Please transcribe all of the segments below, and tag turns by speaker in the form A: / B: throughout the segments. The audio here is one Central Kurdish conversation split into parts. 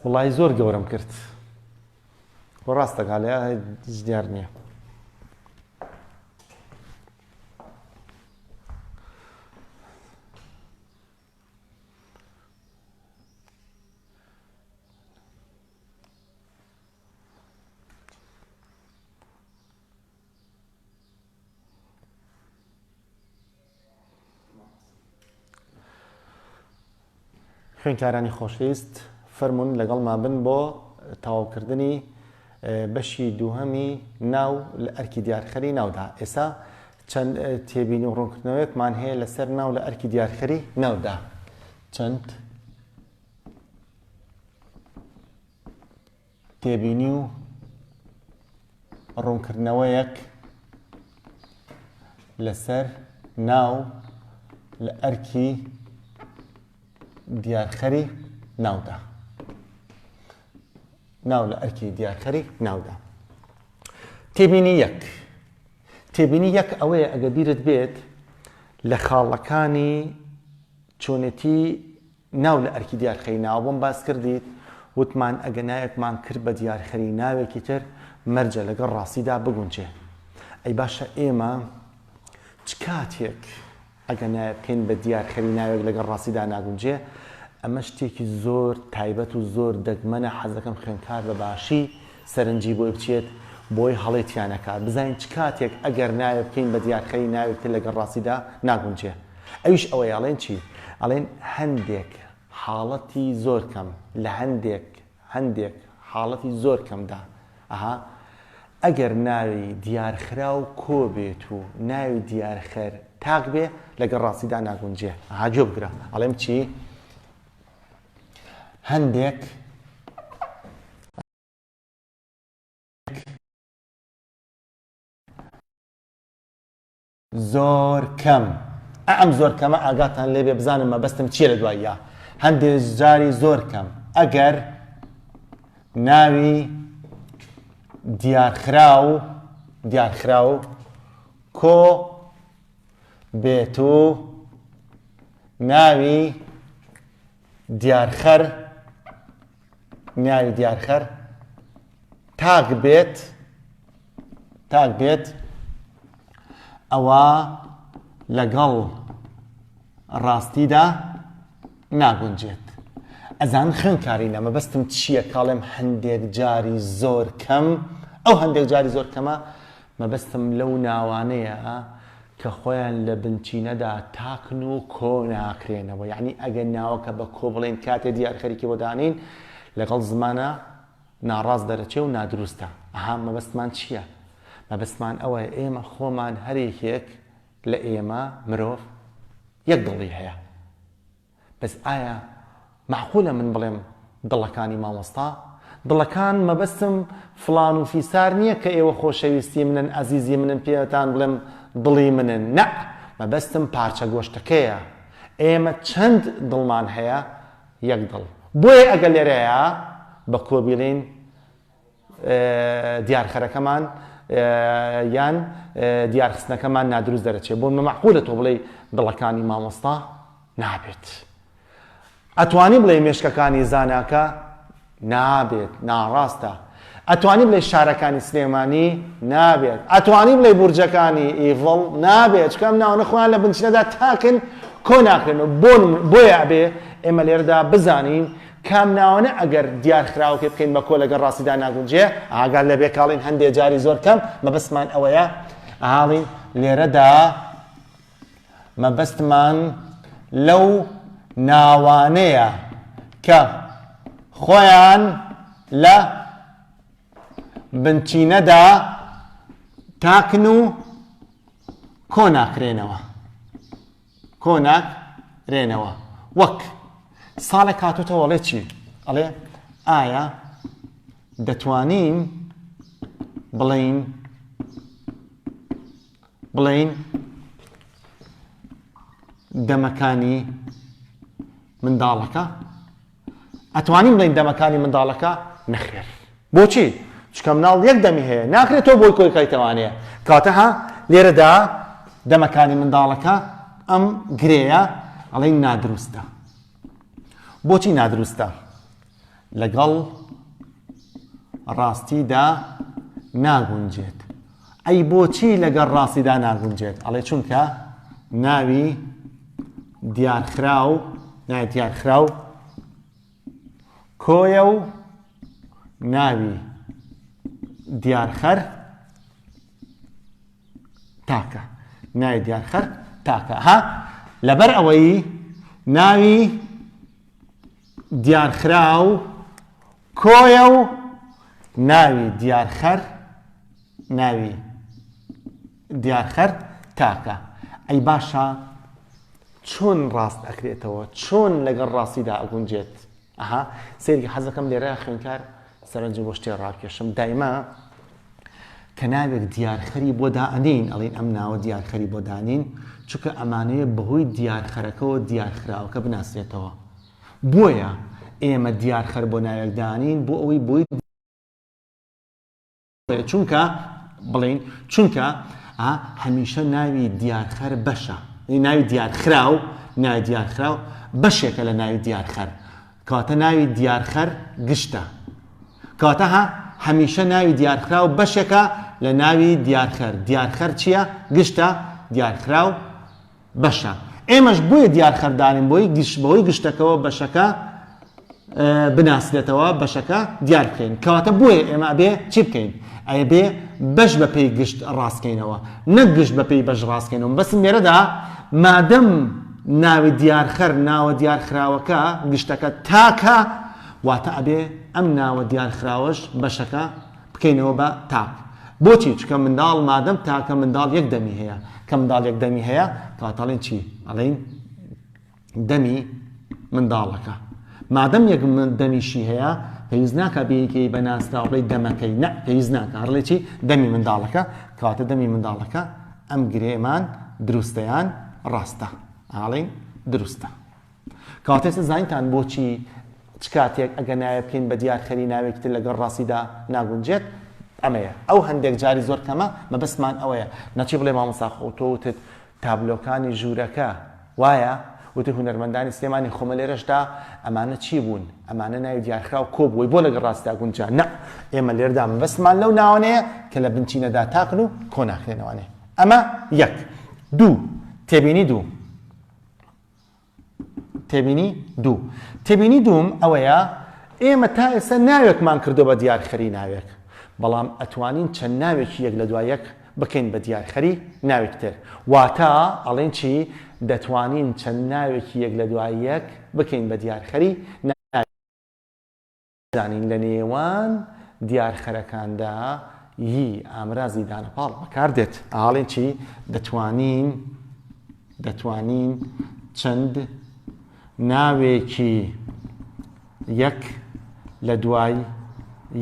A: وەڵاهی زۆر گەورەم کرد وە ڕاستەکە لە هیچ دیار نییە خوێنکارانی خۆشویست فەرمونون لەگەڵمان بن بۆ تەواوکردنی بەشی دووهەمی ناو لە ئەرکی دیارخەری ناودا ئێسا چەند تێبین و ڕوونکردنەوەیەکمان هەیە لەسەر ناو لە ئەرکی دیارخەری ناودا چەند تێبینی و ڕوونکردنەوەیەک لەسەر ناو لە ئەرکی دیارخەری ناودا ناو لە ئەرکی دیارخەری ناودا تێبینی یەک تێبینی یەک ئەوەیە ئەگە بیرت بێت لە خاڵەکانی چۆنێتی ناو لە ئەرکی دیارخەری ناوەبۆم باس کردیت وتمان ئەگە ناوێکمان کرد بە دیارخەری ناوێکی تر مەرجە لەگەڵ ڕاستیدا بگونجێ ئەی باشە ئێمە چ کاتێک ئەگە نایە بکەین بە دیارخەری ناوێک لەگەڵ ڕاستیدا ناگونجێ ئەمە شتێکی زۆر تایبەت و زۆر دەگمەنە حەزەکەم خوێنکار بە باشی سەرنجی بۆی بچێت بۆی هەڵەی تیا نەکات بزانین چ کاتێک ئەگەر ناوێ بکەین بە دیارخەری ناوێک تر لەگەڵ ڕاستیدا ناگونجێ ئەویش ئەوەیە ئەڵێن چی ئەڵێن هەندێک حاڵەتی زۆر کەم لە هەندێک هەندێک حاڵەتی زۆر کەمدا ئەها ئەگەر ناوی دیارخراو کۆ بێت و ناوی دیارخەر تاک بێ لەگەڵ ڕاستیدا ناگونجێ ئەها گوێ بگرە ئەڵێم چی هەندێک زۆر کەم ئەم زۆر کەمە ئاگاتان لێبێ بزانم مەبەستم چیە لە دواییە هەندێ جاری زۆر کەم ئەگەر ناوی دیارخراو دیارخراو کۆ بێت و ناوی دیارخەر ناوی دیارخەر تاک بێت تاک بێت ئەوە لەگەڵ ڕاستیدا ناگونجێت ئەزان خوێنکاری نەمە بەستم چییە کاڵێم هەندێک جاری زۆر کەم ئەو هەندێک جاری زۆر کەمە مەبەستم لەو ناوانەیە کە خۆیان لە بنچینەدا تاکن و کۆ ناکرێنەوە، یەعنی ئەگەر ناوەکە بە کۆ بڵێین کاتێ دیار خەریکی بۆ دانین لەگەڵ زمانە ناڕاست دەرەچێ و نادروستە. ئەها مەبەستمان چییە؟ مەبەستمان ئەوەیە ئێمە خۆمان هەر یەکێک لە ئێمە، مرۆڤ، یەک دڵی هەیە. بەس ئایا مەعقولە من بڵێم دڵەکانی مامۆستا دڵەکان مەبەستم فڵان و فیسار نیە کە ئێوە خۆشەویستی منن ئەزیزی منن پێتان بڵێم دڵی منن نەع مەبەستم پارچە گۆشتەکەیە ئێمە چەند دڵمان هەیە یەک دڵ بۆیە ئەگەر لێرەیە بە کۆ بیڵێین دیارخەرەکەمان یان دیارخستنەکەمان نادروست دەرەچێت بۆ مەمەعقولە تۆ بڵێ دڵەکانی مامۆستا نابێت ئەتوانی بڵێ مێشکەکانی زاناکە نابێت ناڕاستە ئەتوانی بڵێ شارەکانی سلێمانی نابێت ئەتوانی بڵێ بورجەکانی ئیڤڵ نابێت چکەم ناوە خۆیان لە بنچینەدا تاکن کۆ ناکرێن و بۆیە بێ ئێمە لێردا بزانین کام ناوەنە ئەگەر دیار خراوە پێ بکەین بە کۆ لەگەڵ ڕاستیدا ناگونجێ؟ ئاگات لە بێکاڵین هەندێ جاری زۆر کەم مەبەستمان ئەوەیە ئاڵین لێرەدا مەبەستمان لەو ناوانەیە کە خۆیان لە بنچینەدا تاکن و کۆ ناکرێنەوە کۆناک رێنەوە وەک ساڵێک هاتوتەوە ئەڵێ چی ئەڵێ ئایا دەتوانین بڵین بڵین دەمەکانی منداڵەکە ئەتوانین بڵێین دەمەکانی منداڵەکە نەخێر بۆچی چکە مناڵ یەک دەمی هەیە ناکرێت تۆ بۆی کۆی کایتەوانەیە کاتەها لێرەدا دەمەکانی منداڵەکە ئەم گرەیە ئەڵێ نادروستە بۆچی نادروستە لەگەڵ ڕاستیدا ناگونجێت ئەی بۆچی لەگەڵ ڕاستیدا ناگونجێت؟ ئەڵێ چونکە ناوی دیارخراو ناوی دیارخراو کۆیە و ناوی دیارخەر تاکە ناوی دیارخەر تاکە ها لەبەر ئەوەی ناوی دیارخراو کۆیە و ناوی دیارخەر ناوی دیارخەر تاکە ئەی باشە چۆن ڕاست ئەکرێتەوە چۆن لەگەڵ ڕاستیدا ئەگونجێت ئەها سێری حەزەکەم لێرە خوێنکار سەرنج بۆ شتێ ڕاکێشم دایما کە ناوێک دیارخەری بۆ دائەنین ئەڵین ئەم ناوە دیارخەری بۆ دانین چونکە ئەمانەیە بەهۆی دیارخەرەکەەوە دیارخراوەکە بناسرێتەوە بۆیە ئێمە دیارخەر بۆ ناوێکدانین بۆ ئەوەی بۆی بڵێین چونکە بڵێین چونکە هەمیشە ناوی دیارخەر بەشە ناوی دیارخراو ناوی دیارخراو بەشێکە لە ناوی دیارخەر کاتە ناوی دیارخەر گشتە کاتە ها هەمیشە ناوی دیارخراو بەشێکە لە ناوی دیارخەر دیارخەر چییە گشتە دیارخراو بەشە ئێمەش بۆیە دیار خەردارین بۆی گشت بەوەی گشتەکەەوە بەشەکە بناسرێتەوە بەشەکە دیار بکەین کەواتە بۆیە ئێمە بێ چی بکەین ئەیە بێ بەش بە پێی گشت ڕاستکەینەوە نەک گشت بە پێی بەش ڕاستکەینەوە بەسم لێرەدا مادەم ناوی دیارخەر ناوە دیارخراوەکە گشتەکە تاکە واتە ئەبێ ئەم ناوە دیارخراوەش بەشەکە بکەینەوە بە تاک بۆچی چکە منداڵ مادەم تاکە منداڵ یەک دەمی هەیە کە منداڵ یەک دەمی هەیە کاتەڵین چی ئەڵین دەمی منداڵەکە مادەم یەک دەمیشی هەیە پێویست ناکە بینکەی بە ناسراوڵی دەمەکەی نە پێویست ناکە هەرڵێکی دەمی منداڵەکە کاتە دەمی منداڵەکە ئەم گرێمان دروستیان ڕاستە ئاڵین دروستە کاتێ سزاینتان بۆ چی چ کاتێک ئەگەر ناوێ بکەین بە دیار خەری ناوێکی تر لەگەڵ ڕاستیدا ناگونجێت ئەمەیە ئەو هەندێک جاری زۆر کەمە مەبەستمان ئەوەیە نەچی بڵێ مامۆستا خۆ تۆ وتت تابلۆکانی ژوورەکە وایە وتی هونەرمەندانی سلێمانی خۆمە لێرەشدا ئەمانە چی بوون ئەمانە ناوی دیارخراو کۆ بووی بۆ لەگەڵ ڕاستدا گونجا نە ئێمە لێردا مەبەستمان لەو ناوانەیە کە لە بنچینەدا تاقن و کۆناخێنەوانێ ئەمە یەک دوو تێبینی دوو تێبینی دوو. تێبینی دووم ئەوەیە ئێمە تا ئێستا ناوێکمان کردووە بە دیارخەری ناوێک، بەڵام ئەتوانین چەند ناوێکی یەک لە دوای یەک بکەین بە دیارخەری ناوێکی تر. واتە ئەڵێین چی؟ دەتوانین چەند ناوێکی یەک لە دوای یەک بکەین بە دیارخەری ناوێک. زانین لە نێوان دیار خەرەکاندا ی ئامرازی دانە پاڵ بەکار دێت ئاڵێن چی دەتوانین دەتوانین چەند ناوێکی یەک لە دوای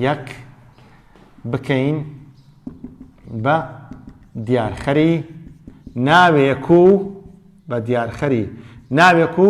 A: یەک بکەین بە دیارخەری ناوێک و بە دیارخەری ناوێک و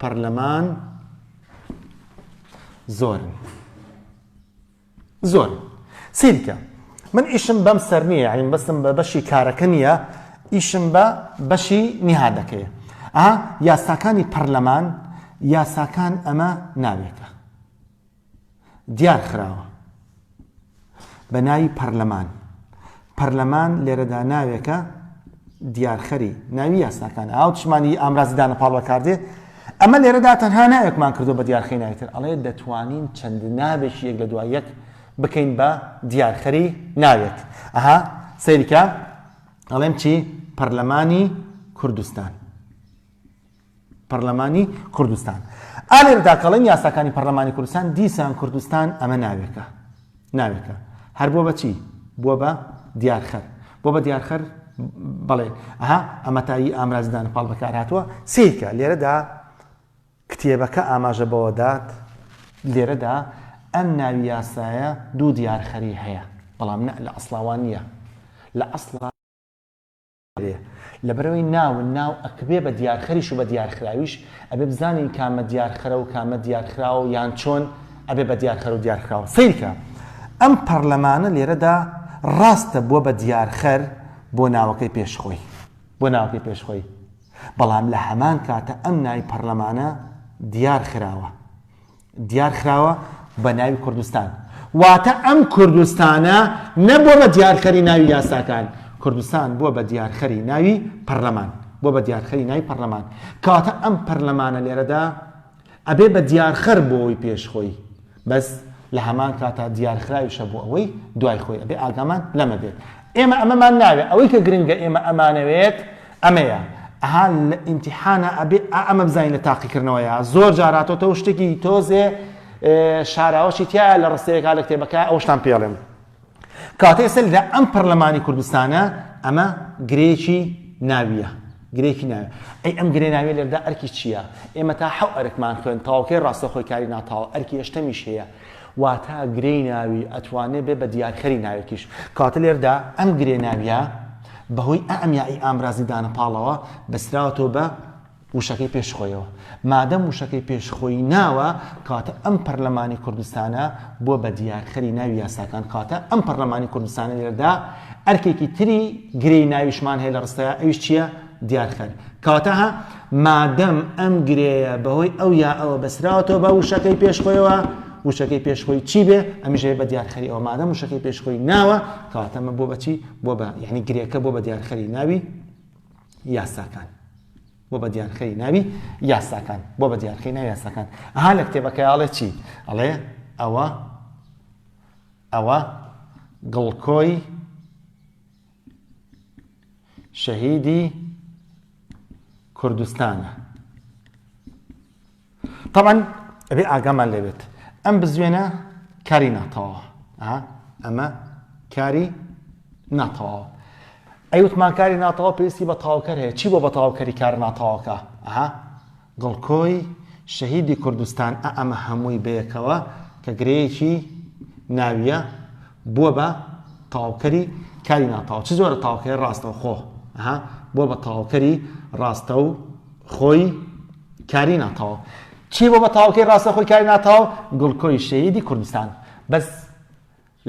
A: پەڕلەمان زۆرن زۆر سیرکە من ئیشم بەم سەر نییە عین بەسم بە بەشی کارەکە نییە ئیشم بە بەشی نیهادەکەیە ئا یاساکانی پەرلەمان یاساکان ئەمە ناوێتە دیار خراوە بە ناوی پەرلەمان. پەرلەمان لێرەدا ناوێکە دیارخەری ناوی یاساکان ئاو چمانی ئامرازی دانەپاڵ بەکاردێت ئەمە لێرەدا تەنها ناوێکمان کردو بە دیارخەی ناویتر ئەڵێ دەتوانین چەند ناوێکی یەک لە دوای یەک بکەین بە دیارخەری ناوێت ئەها سەیرکە ئەڵێم چی پەرلەمانی کوردستان پەرلەمانی کوردستان ئالێردا کەڵێن یاساکانی پەرلەمانی کوردستان دیسان کوردستان ئەمە ناوێکە ناوێکە هەر بۆ بەچی بووە بە دیارخەر بۆ بە دیارخەر بەڵێ ئەها ئەمەتایی ئامرازدان پاڵ بەکار هاتووە سیکە لێرەدا کتێبەکە ئاماژە بەوەدات لێرەدا ئەم ناوی یاسایە دوو دیارخەری هەیە بەڵام نە لە ئەسلاوان نییە لە ئەسڵ بێ لەبەرەوەی ناون ناو ئەکبێ بە دیارخەریش و بە دیارخراویش ئەبێ بزانین کامە دیارخەرە و کامە دیارخراوە یان چۆن ئەبێ بە دیارخەر و دیارخراوە سەیرکە ئەم پەرلەمانە لێرەدا ڕاستە بووە بە دیارخەر بۆ ناوەکەی پێشخۆی بۆ ناوەکەی پێشخۆی بەڵام لە هەمان کاتە ئەم ناوی پەرلەمانە دیار خراوە دیار خراوە بە ناوی کوردستان واتە ئەم کوردستانە نەبووە بە دیارخەری ناوی یاساکان کوردستان بووە بە دیارخەری ناوی پەرلەمان بۆ بە دیارخەری ناوی پەرلەمان کەواتە ئەم پەرلەمانە لێرەدا ئەبێ بە دیارخەر بۆی پێش خۆی بەس لە هەمان کاتا دیارخراویشە بۆ ئەوەی دوای خۆی ئەبێ ئاگامان لەمە بێت ئێمە ئەمەمان ناوێت ئەوەی کە گرنگە ئێمە ئەمانەوێت ئەمەیە ئەها لە ئیمتیحانا ئەبێ ئا ئەمە بزانین لە تاقیکردنەوەیە زۆر جار هاتۆتەوە شتێکی تۆزێ شاراوەشی تایە لە ڕستەیەکا لە کتێبەکە ئەوشتان پێڵێم کاتێ سەلدا ئەم پەرلەمانی کوردستانە ئەمە گرێکی ناویە گرێکی ناوێ ئەی ئەم گرێ ناوێ لێردا ئەرکی چییە ئێمە تا حەو ئەرکمان خوێن تاوکەی ڕاستەخۆی کاری ناتاوە ئەرکی هێشتەمیش هەیە واتا گرێی ناوی ئەتوانێ بێ بە دیارخەری ناوێکیش. کەواتە لێردا ئەم گرێ ناوییە بە هۆی ئا ئەمیا ی ئامرازی دانە پاڵەوە بەستراوەتەوە بە وشەکەی پێش خۆیەوە. مادەم وشەکەی پێش خۆی ناوە، کەواتە ئەم پەرلەمانی کوردستانە بووە بە دیارخەری ناوی یاساکان. کەواتە ئەم پەرلەمانی کوردستانە لێردا ئەرکێکی تری گرێی ناویشمان هەیە لە ڕستەیا، ئەویش چییە؟ دیار خەر. کەواتە هە مادەم ئەم گرێیە بەهۆی ئەو یا ئەوە بەسراوەتەوە بە وشەکەی پێش خۆیەوە، وشەکەی پێش خۆی چی بێ؟ ئەمیش هەیە بە دیار خەری ئەوە مادەم وشەکەی پێش خۆی ناوە، کەواتە ئەمە بۆ بە چی؟ بۆ بە یعنی گرێکە بۆ بە دیار خەری ناوی یاساکان. بۆ بە دیار خەری ناوی یاساکان بۆ بە دیار خەری ناوی یاساکان. ئەها لە کتێبەکەی ئاڵێ چی؟ ئەڵێ ئەوە ئەوە گڵکۆی شەهیدی کوردستانە طبعا ئەبێ ئاگامان لەوێت ئەم بزوێنە کاری ناتەواوە ئەمە کاری ناتەواوە ئەی وتمان کاری ناتەواو پێویستی بە تاوکەر هەیە چی بۆ بە تاوکەری کار ناتەواوکە ئەها گڵکۆی شەهیدی کوردستان ئە ئەمە هەمووی بەیەکەوە کە گرێیەکی ناوییە بووە بە تەواوکەری کاری ناتەواو چ جۆرە تاوکەی ڕاستەوخۆ ها بۆ بە تەواوکەری ڕاستە و خۆی کاری ناتەواو چی بۆ بە تاوکەی ڕاستە خۆی کاری ناتەواو گڵکۆی شەیدی کوردستان بەس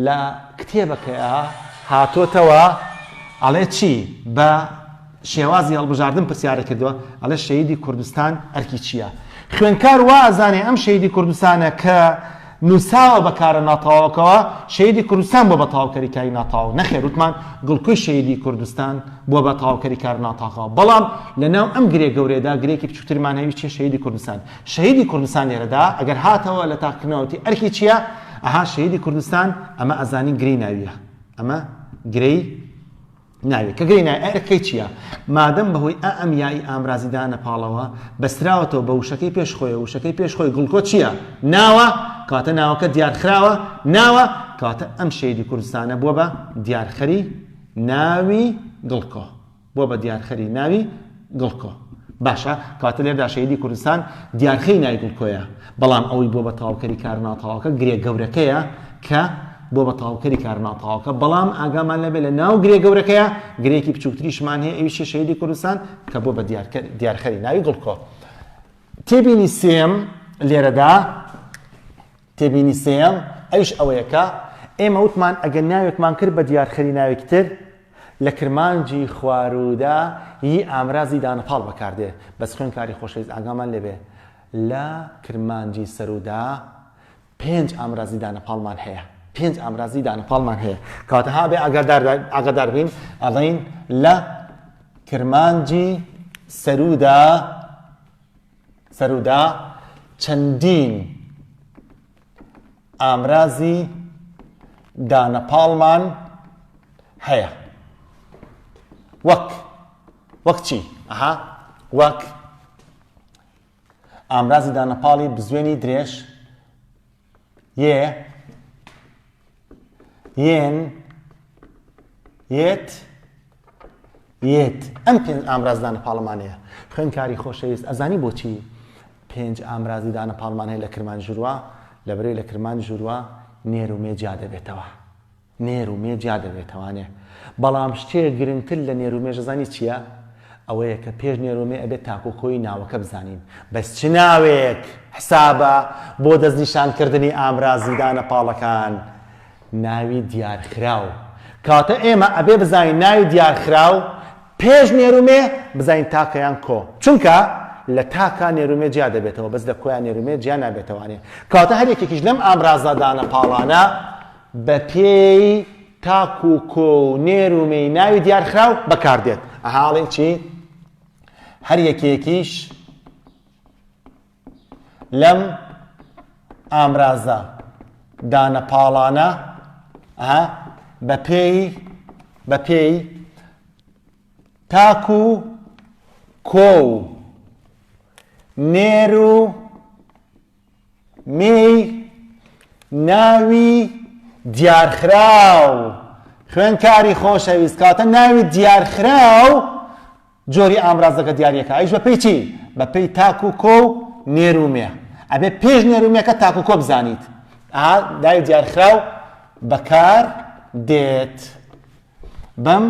A: لە کتێبەکەیا هاتۆتەوە ئەڵێ چی؟ بە شێوازی هەڵبژاردن پرسیارە کردووە ئەڵێ شەیدی کوردستان ئەرکی چییە؟ خوێنکار وا ئەزانێ ئەم شەیدی کوردستانە کە نووساوە بە کارە ناتەواوەکەوە شەیدی کوردستان بۆ بە تەواوکەری کاری ناتەواو نەخێر وتمان گڵکوی شەیدی کوردستان بۆ بە تەواوکەری کار ناتاقەوە بەڵام لەناو ئەم گرێ گەورەدا گرێکی بچووترمان هەوی چێ شەیدی کوردستان شەهیدی کوردستان لێرەدا ئەگەر هاتەوە لە تاقیکردنەوە وتی ئەرکی چییە؟ ئەها شەهیدی کوردستان ئەمە ئەزانین گرێی ناوییە ئەمە گرێی ناوێت کە گرێی نای ئەرکەکەی چییە؟ مادەم بەهۆی ئا ئەم یایی ئامرازیدانە پاڵەوە بەستراوەتەوە بە وشەکەی پێش خۆی وشەکەی پێش خۆی گڵکۆ چییە؟ ناوە کاتە ناوەکە دیارخراوە ناوە کاتە ئەم شەهیدی کوردستانە بووە بە دیارخەری ناوی گڵکۆ. بوە بە دیارخەری ناوی گڵکۆ. باشە کەواتە لێردا شەهیدی کوردستان دیارخەی ناوی گڵکۆیە بەڵام ئەوەی بوە بە تەواوکەری کارە ناتەواوەکە گرێ گەورەکەیە کە بوە بە تەواوکەری کارە ناتەواوەکە بەڵام ئاگامان لێ بێ لە ناو گرێ گەورەکەیە گرێکی بچووکتریشمان هەیە ئەویشی شەهیدی کوردستان کە بوە بە دیارخەری ناوی گڵکۆ. تێبینی سێم لێرەدا تێبینی سێیەم، ئەویش ئەوەیە کە ئێمە وتمان ئەگەر ناوێکمان کرد بە دیارخەری ناوێکی تر، لە کرمانجی خواروودا ی ئامرازی دانەپاڵ بەکار دێ، بەس خوێندکاری خۆشەویست ئاگامان لێ بێ لە کرمانجی سەروودا پێنج ئامرازی دانەپاڵمان هەیە، پێنج ئامرازی دانەپاڵمان هەیە، کەواتە ها ئەبێ ئاگادار ئاگادار بین ئەڵێین لە کرمانجی سەروودا. سەرودا چەندین ئامرازی دانەپاڵمان هەیە وەک وەک چی ئەها وەک ئامرازی دانەپاڵی بزوێنی درێژ یێ یێن یێت یێت ئەم پێنج ئامرازدانە پاڵمانەیە خوێنکاری خۆشەویست ئەزانی بۆچی پێنج ئامرازیدانە پاڵمان هەیە لە کرمان ژوروە لە بەرەی لە کرمان ژوروە نێر و مێ جیا دەبێتەوە نێرومێ جیا دەبێتەوانێ بەڵام شتێ گرنگتر لە نێرومێش زانی چیە ئەوەیە کە پێش نێرومێ ئەبێ تاکو کۆی ناوەکە بزانین بەس چ ناوێک حسابە بۆ دەست نیشان کردنی ئامرازی دانە پاڵەکان ناوی دیار خراو کاتە ئێمە ئەبێ بزانین ناوی دیار خراو پێش نێرومێ بزانین تاکەیان کۆ چونکە لە تاکە نێرومێ جیا دەبێتەوە بەس لە کۆیان نێرومێ جیا نابێتەوانێ کاتە هەر یەکێکیش لەم ئامرازادانە پاڵانە بە پێی تاک و کۆ و نێر و مێی ناوی دیارخراو بە کار دێت. ئەها ئەڵێین چی؟ هەر یەکێکیش لەم ئامرازە دانە پاڵانە ئەها بە پێی بە پێی تاک و کۆ و نێر و مێی ناوی دیارخراو خوێندکاری خۆشەویست کاتە ناوی دیارخراو جۆری ئامرازەکە دیارەکە ئەیش بەپی چی بەپی تاک و کۆ و نێرومێ ئەبێ پێش نێرومێکە تاک و کۆ بزانیت دای دیارخراو بەکار دێت بەم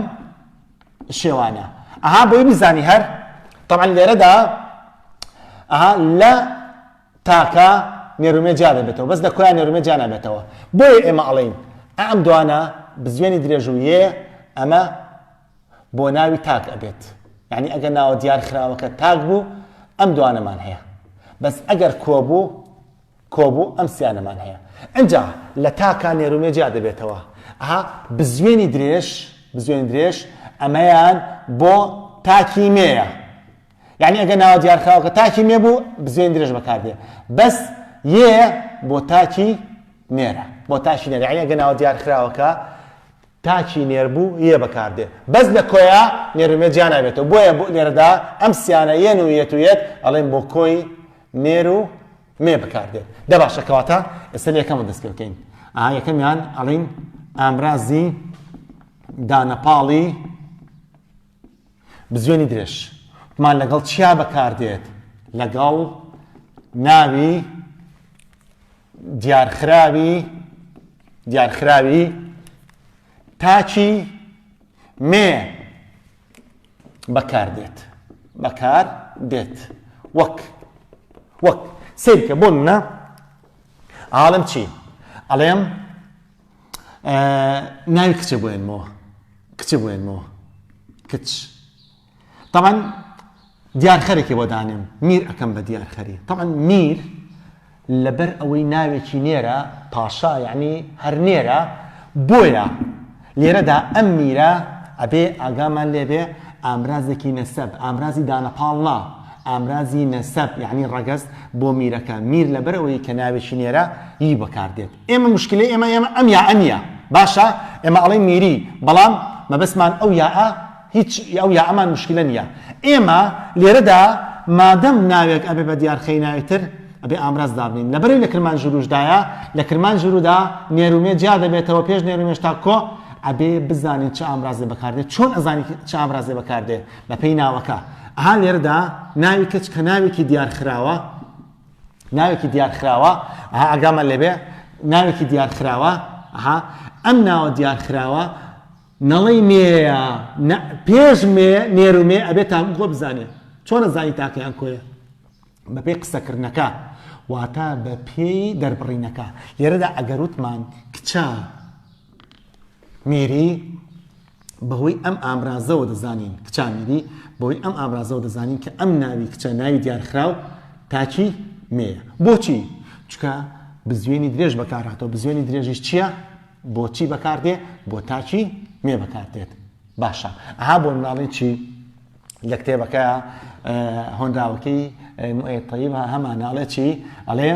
A: شێوانە ئەها بۆی بزانی هەر طبعا لێرەدا ئەها لە تاکە نێرومێ جیا دەبێتەوە بەس لە کۆیان نێرومێ جیا نابێتەوە بۆیە ئێمە ئەڵین ئەم دوانە بزوێنی درێژویە ئەمە بۆ ناوی تاک ئەبێت یعنی ئەگەر ناوە دیار خراوەکە تاک بوو ئەم دوانەمان هەیە بەس ئەگەر کۆ بوو کۆبوو ئەم سیانەمان هەیە ئنجا لە تاکا نێرومێ جیا دەبێتەوە ئەها بزوێنی درێژ بزوێنی درێژ ئەمەیان بۆ تاکی مێیە یعنی ئەگە ناوە دیارکراوەکە تاکی مێ بوو بزوێن درێژ بەکاردێ بەس یێ بۆ تاکی نێرە بۆ تاکی نێرە یعنی ئەگە ناوە دیارکراوەکە تاکی نێر بوو یێ بەکاردێ بەس لە کۆیە نێرومێ جیانابێتەوە بۆیە بۆ نێرەدا ئەم سیانە یەن و یەت و یەت ئەڵێن بۆ کۆی نێر و مێ بکاردێت دە باشە کەواتە ئێستا یەکەمە دەست پێ بکەین ئا یەکەمیان ئەڵین ئامرازی دانەپاڵی بزوێنی درێژ مان لەگەڵ چیا بەکاردێت لەگەڵ ناوی دیارخراوی دیارخراوی تاچی مێ بەکار دێت بەکار دێت وەک وەک سیرکە بۆ منە عاڵم چی ئەڵێم ناوی کچە بێنمەوە کچە بێنمەوە کچ تەمان دیار خەرێکی بۆ دانێم میر ئەکەم بە دیار خەری تەعەن میر لەبەر ئەوەی ناوێکی نێرە پاشا یعنی هەر نێرە بۆیە لێرەدا ئەم میرە ئەبێ ئاگامان لێبێ ئامرازێکی نەسەب ئامرازی دانەپاڵ نا ئامرازی نەسەب یعنی ڕەگەست بۆ میرەکە میر لەبەرەوەی کە ناوێکی نێرە ی بەکاردێت ئێمە مشکلی ئێمە ئێمە ئەم یا ئەمیە باشە ئێمە ئەڵێ میری بەڵام مەبەستمان ئەو یاە هیچ یا ئەو یا ئەمان مشکلە نیە ئێمە لێرەدا مادەم ناوێک ئەبێ بە دیار خەی ناوێک تر ئەبێ ئامراز دابنین لەبەرەی لە کرمانجوروش دایە لە کرمانجورو دا نێرو مێ جیا دەبێتەوە پێش نێرو مێش تا کۆ ئەبێ بزانین چ ئامرازێ بەکاردێ چۆن ئەزانی چ ئامرازێ بەکاردێ بە پێی ناوەکە ئەها لێرەدا ناوی کچ کە ناوێکی دیارخراوە ناوێکی دیارخراوە ئەها ئەگامە لێبێ ناوێکی دیارخراوە ئەها ئەم ناوە دیارخراوە نەڵێی مێیە نە پێش مێ نێر و مێ ئەبێ تاکو کۆ بزانێ چۆن ئەزانی تاکەیان کۆیە بەپێی قسەکردنەکە واتا بە پێی دەربڕینەکە لێرەدا ئەگەروتمان کچە میری بەهۆی ئەم ئامرازەوە دەزانین کچامیری بۆی ئەم ئامرازەوە دەزانین کە ئەم ناوی کچە ناوی دیارخراو تاکی مێە بۆچی چکە بزوێنی درێژ بەکاراتەوە بزوێنی درێژیش چییە؟ بۆ چی بەکار دێ؟ بۆ تاکی مێ بەکار دێت. باشە ئەها بۆ مناڵی چی لە کتێبەکە هۆنراوەکەی طیب هەمان ناڵێ چی ئەڵێ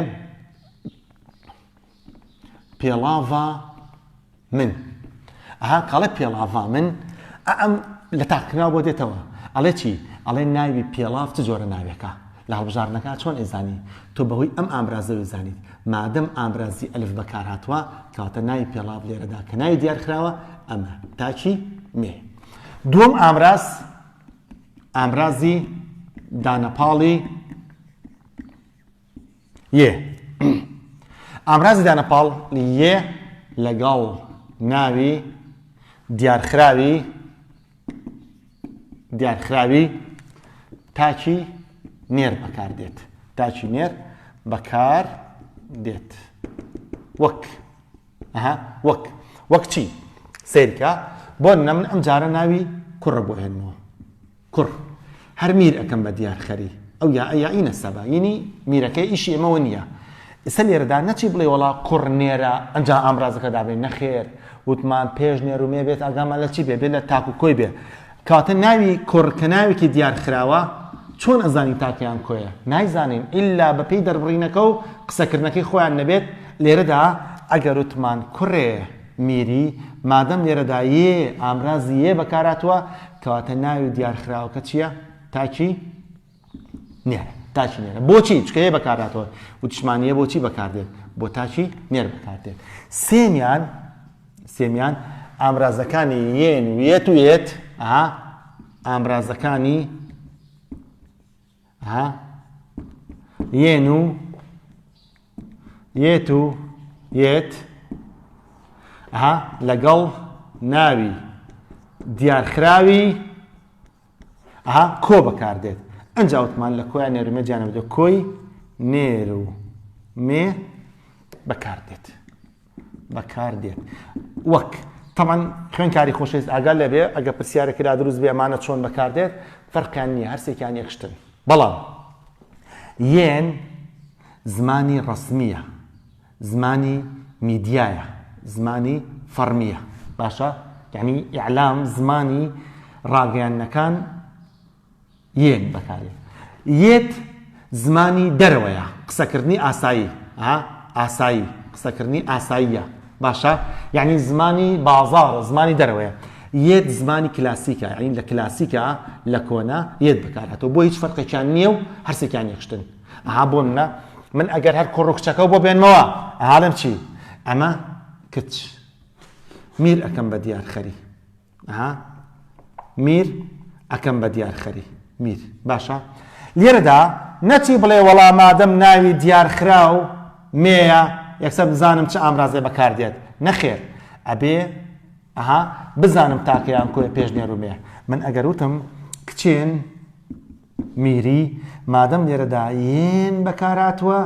A: پێڵاڤا من ئەها کاڵێ پێڵاڤا من ئەم لە تاقناو بۆ دێتەوە ئەڵێ چی ئەڵێ ناوی پێڵاف چ جۆرە ناوێکە لە هەڵبژاردنەکە چۆن ئەیزانی؟ تۆ بەهۆی ئەم ئامرازە وەیزانیت. مادەم ئامرازی ئەلف بەکارهاتووە، کەواتە ناوی پێڵاڤ لێرەدا کە ناوی دیارخراوە، ئەمە، تاکی، مێ. دووەم ئامراز، ئامرازی دانەپاڵی، یێ. ئامرازی دانەپاڵ، یێ، لەگەڵ ناوی دیارخراوی، دیارخراوی تاکی نێر بەکار دێت تاکی نێر بەکار دێت وەک ئەها وەک وەک چی سیرکە بۆ نەمن ئەم جارە ناوی کوڕە بۆ هێنەوە کوڕ هەر میر ئەکەم بە دیار خەری. ئەو یائە یائی نەسەبە ینی میرەکەی ئیشی ئێمەوە نییە. ئیسە لێرەدا نەچی بڵێ وەڵا کوڕ نێرە ئەنجا ئامرازەکە دابنێ نەخێر وتمان پێش نێر و مێ بێت ئاگامان لە چی بێ بێ لە تاک و کۆی بێ کەواتە ناوی کوڕ کە ناوێکی دیار خراوە چۆن ئەزانین تاکیان کۆیە نایزانین ئللا بەپێی دەربڕینەکە و قسەکردنەکەی خۆیان نەبێت لێرەدا ئەگەر وتمان کوڕێ میری، مادەم لێرەدا یێ ئامرازی یێ بەکارهاتووە، کەواتە ناوی دیارخراوەکە چییە؟ تاکی نێر. تاکی نێرە. بۆچی؟ چونکە یێ بەکارهاتووە. وتیشمان یێ بۆچی بەکاردێت؟ بۆ تاکی نێر بەکاردێت. سێمیان، سێمیان ئامرازەکانی یێن و یێت و یێت، ئا ئامرازەکانی، ها یێن و یێت و یێت ها لەگەڵ ناوی دیارخراوی ها کۆ بەکاردێت ئەنج ئەوتمان لە کۆیان نێرمە جانەوە کۆی نێر و مێ بەکاردێت بەکاردێت وەک تەمان خوێنکاری خۆشەویست ئاگا لەبێ ئەگە پرسیارێکی لا دروست بێ ئەمانە چۆن بەکاردێت فەرقیان نییە هەرسێکیان یەکشتن بەڵام یەن زمانی ڕسمیە زمانی میدیایە زمانی فەرمیە باشە یعنی ئیعلام زمانی ڕاگەیانەکان یێت بەکاربێت. یێت زمانی دەرەوەیە، قسەکردنی ئاسایی. ئاسایی، قسەکردنی ئاساییە. باشە؟ یانی زمانی بازاڕە، زمانی دەرەوەیە. یێت زمانی کلاسیکە، یانی لە کلاسیکە، لە کۆنە، یێت بەکارهاتووە. بۆ هیچ فەرقێکیان نییە و هەر سێکیان یەک شتن. بۆ نمونە، من ئەگەر هەر کوڕ و کچەکەو بۆ بێنمەوە، ئەڵێم چی؟ ئەمە کچ. میر ئەکەم بە دیار خەری. ها میر ئەکەم بە دیار خەری میر باشە لێرەدا نەچی بڵێ وەڵا مادەم ناوی دیار خراو مێە یەکسەر بزانم چ ئامرازێ بەکاردێت نەخێر ئەبێ ئەها بزانم تاکەیان کۆی پێشنێرومێ من ئەگەر وتم کچێن میری، مادەم لێرەدا یێن بەکارهاتووە،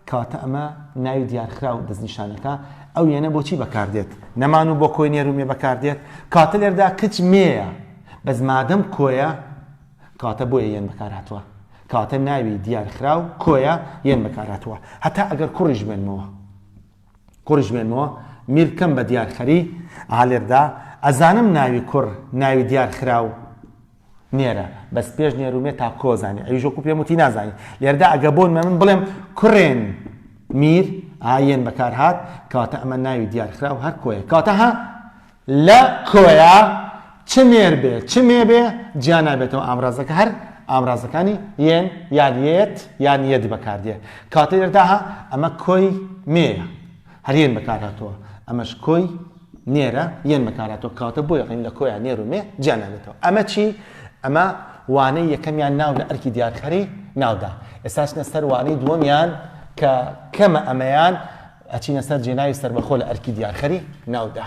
A: کەواتە ئەمە ناوی دیارخراو دەستنیشانەکە، ئەو یێنە بۆ چی بەکاردێت؟ نەمان و بۆ کۆی نێر و مێ بەکاردێت، کەواتە لێرەدا کچ مێیە، بەس مادەم کۆیە، کەواتە بۆیە یێن بەکارهاتووە، کەواتە ناوی دیارخراو کۆیە یێن بەکارهاتووە، هەتا ئەگەر کوڕیش بێنمەوە. کوڕیش بێنمەوە، میر بکەم بە دیارخەری، ئەها لێرەدا ئەزانم ناوی کوڕ ناوی دیارخراو، نێرە بەس پێش نێرو مێ تا کۆ زانی ئەویش وەکو پێم وتی نازانی لێردا ئەگە بۆن مە من بڵێم کوڕێن میر ئایەن بەکار هات کەواتە ئەمە ناوی دیارخرا و هەر کۆیە کەواتە ها لە کۆیە چ نێر بێ چ مێ بێ جیا نابێتەوە ئامرازەکە هەر ئامرازەکانی یەن یان یەت یان یەت بەکاردێ کاتێردا ئەمە کۆی مێە هەر یەن بەکارهاتووە ئەمەش کۆی نێرە یەن بەکارهاتووە کەواتە بۆیە ڕیم لە کۆیە نێر و مێ جیا نابێتەوە ئەمە چی ئەمە وانەی یەکەمیان ناو لە ئەرکی دیارخەری ناودا ئێستاچنە سەر وانەی دووەمیان کە کەمە ئەمەیان ئەچینە سەر جێناوی سربەخۆ لە ئەرکی دیارخەری ناودا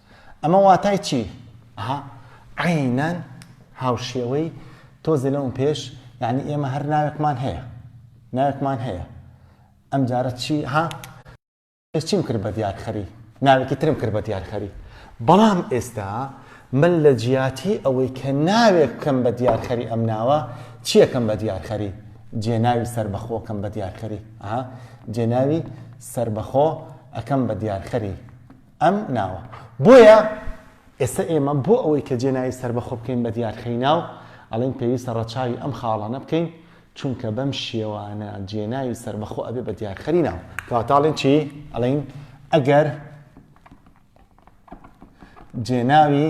A: ئەمە واتای چی؟ ئەها عەینەن هاوشێوەی تۆزێ لەوم پێش یعنی ئێمە هەر ناوێکمان هەیە ناوێکمان هەیە ئەم جارە چی ها چیم کرد بە دیارخەری ناوێکی ترم کرد بە دیارخەری بەڵام ئێستا من لە جیاتی ئەوەی کە ناوێک بکەم بە دیارخەری ئەم ناوە چیەکەم بە دیارخەری جێناوی سربەخۆکەم بە دیارخەری جێناوی سربەخۆ ئەەکەم بە دیارخەری ئەم ناوە. بۆیە ئێستا ئێمە بۆ ئەوەی کە جێناوی سەربەخۆ بکەین بە دیارخەینا و ئەڵێین پێویستە ڕەچاوی ئەم خاڵانە بکەین، چونکە بەم شێوانە جێناوی سەربەخۆ ئەبێ بە دیارخەری ناو. کەواتە ئەڵێن چی؟ ئەڵێین ئەگەر جێناوی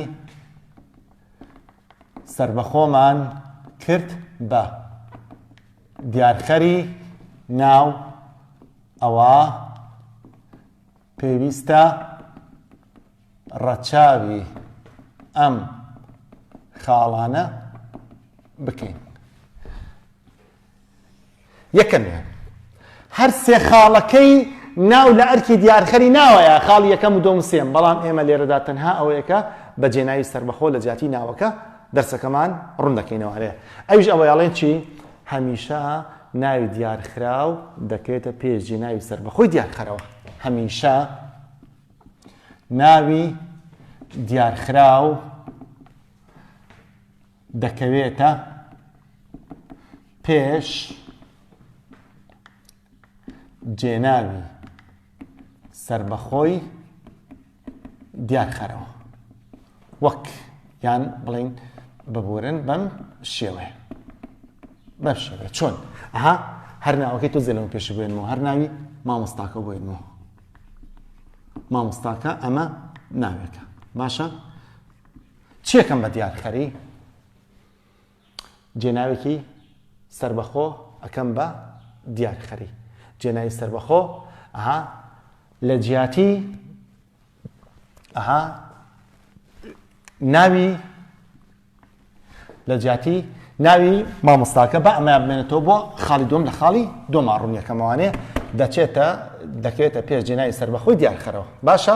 A: سەربەخۆمان کرد بە دیارخەری ناو ئەوە پێویستە ڕەچاوی ئەم خاڵانە بکەین یەکەمیان هەر سێ خاڵەکەی ناو لە ئەرکی دیارخەری ناوەیە خاڵ یەکەم و دۆم سێم بەڵام ئێمە لێرەدا تەنها ئەوەیەکە بە جێناوی سربەخۆ لە جیاتی ناوەکە دەرسەکەمان ڕوون دەکەینەوەێ ئەوش ئەوەیاڵێن چی هەمیشە ناوی دیارخراو دەکرێتە پێش جێناوی سەربەخۆی دیارخەرەوە هەمیشە ناوی دیارخراو دەکەوێتە پێش جێناوی سربەخۆی دیارخەرەوە وەک یان بڵین ببورن بەم شێوەیە بەم شێوە چۆن ئەها هەر ناوەکەی تۆ زێلەوە پێش بێنەوە هەر ناوی مامۆستاکە بۆینەوە مامۆستاکە ئەمە ناوێکە باشە چێکەم بە دیارخەری جێناوێکی سەربەخۆ ئەکەم بە دیار خەری جێناوی سەربەخۆ ئەها لە جیاتی ئەها ناوی لە جیاتی ناوی مامۆستاکە بە ئەمە بمێنێتەوە بۆ خاڵی دوم لە خاڵی دوما ڕوونیەکەمەوانێ دەچێتە دەکەوێتە پێش جێناوی سەربەخۆی دیارخەرەوە باشە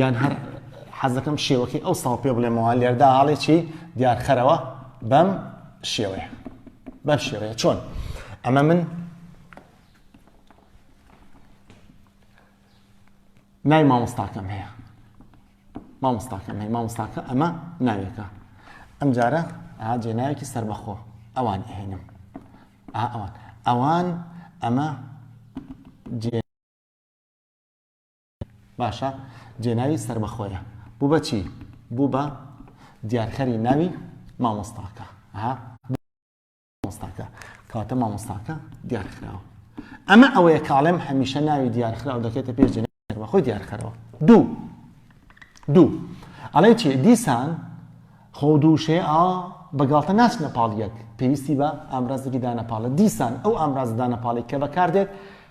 A: یان هەر حەزەکەم شێوەکەی ئەو ساڵ پێ بڵێمەوە لێردا هەڵێکی دیارخەرەوە بەم شێوەیە بەم شێوەیە چۆن ئەمە من نای مامۆستاکەم هەیە مامۆستاکەم هەیە مامۆستاکە ئەمە ناوێکە ئەم جارە ئاجێ ناوێکی سربەخۆ ئەوان ئەهێنم ئەوان ئەوان ئەمە جێ باشە جێناوی سەربەخۆیە بوو بە چی بوو بە دیارکەری ناوی مامۆستاکە ها مامۆستاکە کاتە مامۆستاکە دیارخراوە ئەمە ئەوەیە کاڵێم هەمیشە ناوی دیارخراو دەکێتە پێش جێناوی بەخۆی دیارکەرەوە دوو دوو ئەڵێ چی دیسان خۆ دووشێ ئا بەگاڵتە ناچنە پاڵ یەک پێویستی بە ئامرازێکی دانەپاڵە دیسان ئەو ئامرازدانەپاڵی کە بەکاردێت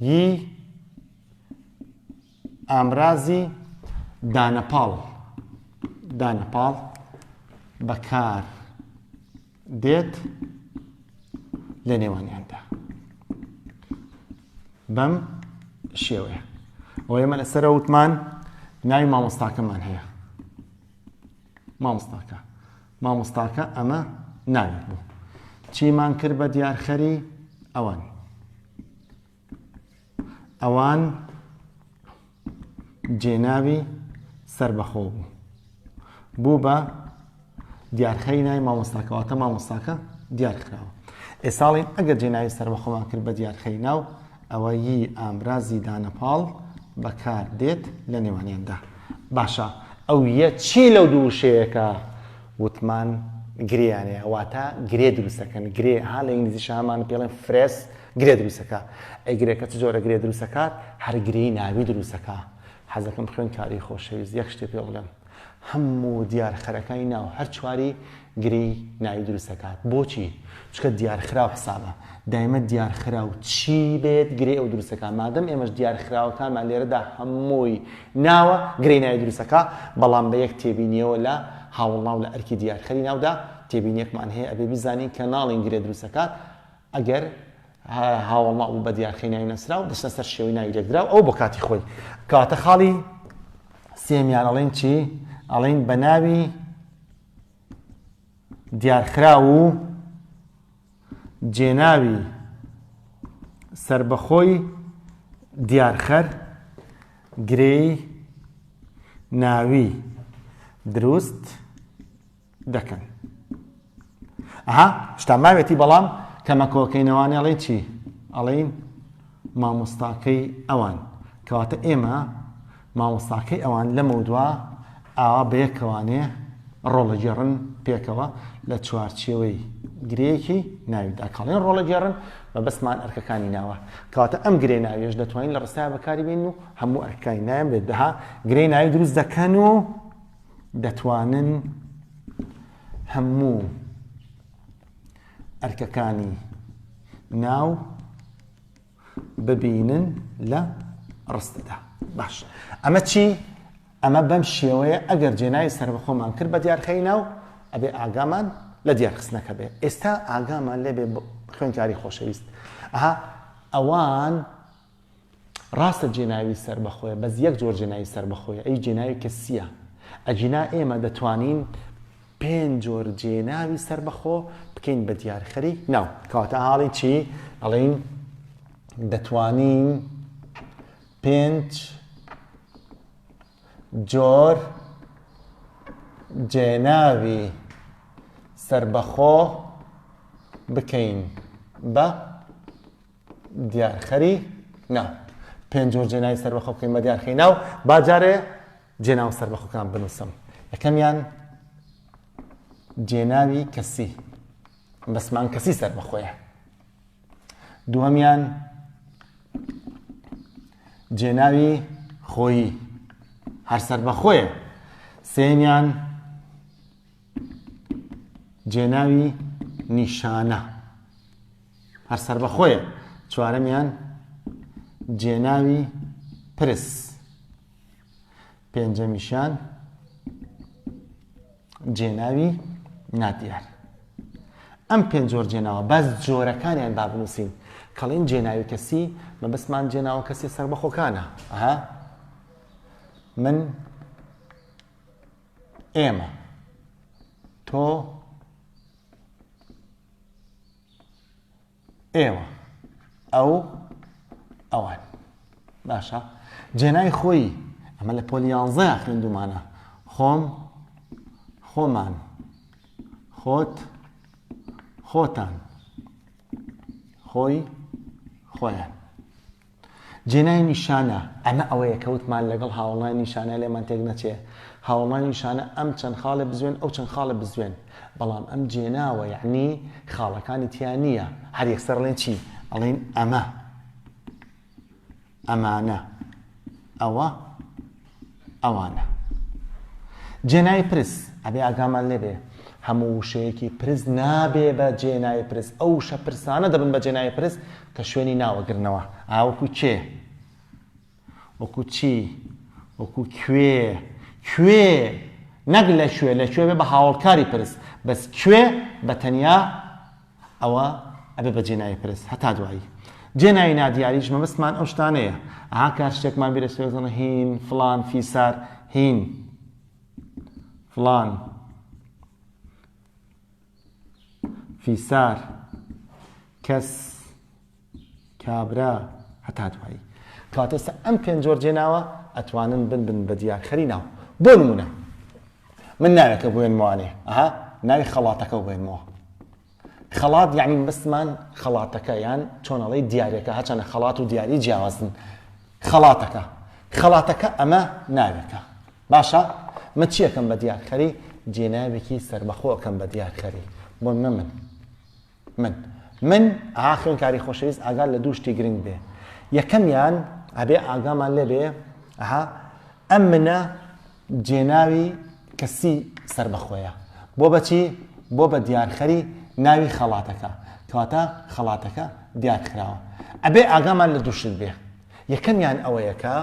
A: ی ئامرازی دانەپاڵ دانەپاڵ بەکار دێت لە نێوانیاندا بەم شێوەیە ئەو ئێمە لەسەر وتمان ناوی مامۆستاکەمان هەیە مامۆستاکە مامۆستاکە ئەمە ناوێک بوو چیمان کرد بە دیارخەری ئەوان ئەوان جێناوی سربەخۆ بوو بوو بە دیارخەری نای مامۆستاکەواتە مامۆستاکە دیارخراوە ئێساڵین ئەگەر جێناوی سربەخۆمان کرد بە دیارخەری ناو ئەوە ی ئامرازی دانە پاڵ بە کار دێت لە نێوانیان دا. باشە ئەو یە چی لەو دوو وشەیە کە وتمان گرێیانەیە واتە گرێ دروستەکەن گرێ ها لە ئینگلیزی شامان پێڵێن فرێس گرێ دروستەکە ئەی گرێکە چ جۆرە گرێ دروستەکات هەر گرێی ناوی دروستەکە حەزەکەم خوێن کاری خۆشەویست یەک شتێ پێ بڵێم هەموو دیارخەرەکانی ناو هەر چواری گرێی ناوی دروست دەکات بۆچی چکە دیارخراو حسابە دایمە دیارخراو چی بێت گرێ ئەو دروستەکە مادەم ئێمەش دیارخراوەکانمان لێرەدا هەمووی ناوە گرێی ناوی دروستەکە بەڵام بە یەک تێبینیەوە لە هاوڵناو لە ئەرکی دیارخەری ناودا تێبینیەکمان هەیە ئەبێ بزانین کە ناڵین گرێ دروستەکات ئەگەر هاوەڵ ناو بوو بە دیارخەی ناوی نەسراو دەچنە سەر شێوەی ناوی لێکدراو ئەو بۆ کاتی خۆی کەواتە خاڵی سێمیان ئەڵێن چی ئەڵین بە ناوی دیارخرا و جێناوی سربەخۆی دیارخەر گرێی ناوی دروست دەکەن ئەها شتا ماوێتی بەڵام کەمەکۆکەینەوانێ ئەڵێن چی ئەڵین مامۆستاکەی ئەوان کەواتە ئێمە مامۆستاکەی ئەوان لەمە دوا ئاوا بەیەکەوانێ ڕۆڵەگەڕن پێکەوە لە چوارچێوەی گرەیەکی ناویدا کاڵێن ڕۆڵەگەڕن بە بەسمان ئەرکەکانی ناوە کەواتە ئەم گرێ ناوێش دەتوانین لە ڕستای بەکاری بین و هەموو ئەرکەکانی نایم بێت دەها گرێ ناوی دروست دەکەن و دەتوانن هەموو ئەرکەکانی ناو ببینن لە ڕستەدا باش ئەمە چی ئەمە بەم شێوەیە ئەگەر جێناوی سربەخۆمان کرد بە دیارخەی ناو ئەبێ ئاگامان لە دیارخستنەکە بێ ئێستا ئاگامان لێبێ خوێنکاری خۆشەویست ئەها ئەوان ڕاستە جێناوی سەربەخۆیە بەس یەک جۆر جێناوی سەربەخۆیە ئەویش جێناوی کەسییە ئەگینا ئێمە دەتوانین پێنج جۆر جێناوی سەربەخۆ بکەین بە دیارخەری ناو کەواتە حاڵی چی ئەڵین دەتوانین پێنج جۆر جێناوی سربەخۆ بکەین بە دیارخەری ناو پێنج جۆر جێناوی سەربەخۆ بکەین بە دیارخەی ناو با جارێ جێناو سەربەخۆکان بنووسم یەکەمیان جێناوی کەسی بەسمان کەسی سەربەخۆیە دووەمیان جێناوی خۆیی هەر سەربەخۆیە سێمیان جێناوی نیشانە هەر سربەخۆیە چوارەمیان جێناوی پرس پێنجەمیشان جێناوی نادیار ئەم پێنج جۆر جێناوە بەس جۆرەکانیان بابنووسین کەڵین جێناوی کەسی مەبستمان جێناوە کەسی سربەخۆکانە ئەها من ئێمە تۆ ئێوە ئەو ئەوان باشە جێنای خۆی ئەمە لە پۆلی یانزە خوێندومانە خۆم خۆمان خۆت خۆتان خۆی خۆیان جێنای نیشانە، ئەمە ئەوەیە کە وتمان لەگەڵ هاوەڵنای نیشانە لێمان تێک نەچێ. هاوەڵنای نیشانە ئەم چەند خاڵێ بزوێن ئەو چەند خاڵێ بزوێن. بەڵام ئەم جێناوە یەعنی خاڵەکانی تیا نییە. هەر یەکسەر ئەڵێن چی؟ ئەڵێین ئەمە. ئەمانە. ئەوە. ئەوانە. جێنای پرس، ئەبێ ئاگامان لێ بێ هەموو وشەیەکی پرس نابێ بە جێنای پرس، ئەو وشە پرسانە دەبن بە جێنای پرس کە شوێنی ناو ئەگرنەوە، ئا وەکوو کێ؟ وەکوو چی؟ وەکوو کوێ؟ کوێ؟ نەک لە کوێ، لە کوێ بێ بە هاوەڵکاری پرس، بەس کوێ بە تەنیا ئەوە ئەبێ بە جێناوی پرس هەتا دوایی جێناوی نادیاریش مەبەستمان ئەو شتانەیە ئەها کار شتێکمان بیرە سوێزەنە هین فلان فیسار هین فلان فیسار کەس کابرا هەتا دوایی. کەواتە ئێستا ئەم پێنج جۆر جێناوە ئەتوانن بنبن بە دیارخەری ناو. بۆ نموونە من ناوێکە بوێنمەوە لێ ئەها ناوی خەڵاتەکە بوێنمەوە. خەڵات یعنی بەسمان خەڵاتەکە یان چۆنەڵی دیارەکە هەچەنە خەڵات و دیاری جیاوازن خەڵاتەکە خەڵاتەکە ئەمە ناوێکە باشە من چیەکەم بە دیارخەری جێناوێکی سربەخۆکەم بە دیارخەری بۆ نە من من من ئەها خوێنکاری خۆشەویست ئاگات لە دوو شتی گرنگ بێ یەکەمیان ئەبێ ئاگامان لێ بێ ئەها ئەم منە جێناوی کەسی سربەخۆیە بۆ بەچی بۆ بە دیارخەری ناوی خەڵاتەکە کەواتە خەڵاتەکە دیارخراوە ئەبێ ئاگامان لە دووشت بێ یەکەمیان ئەوەیەکە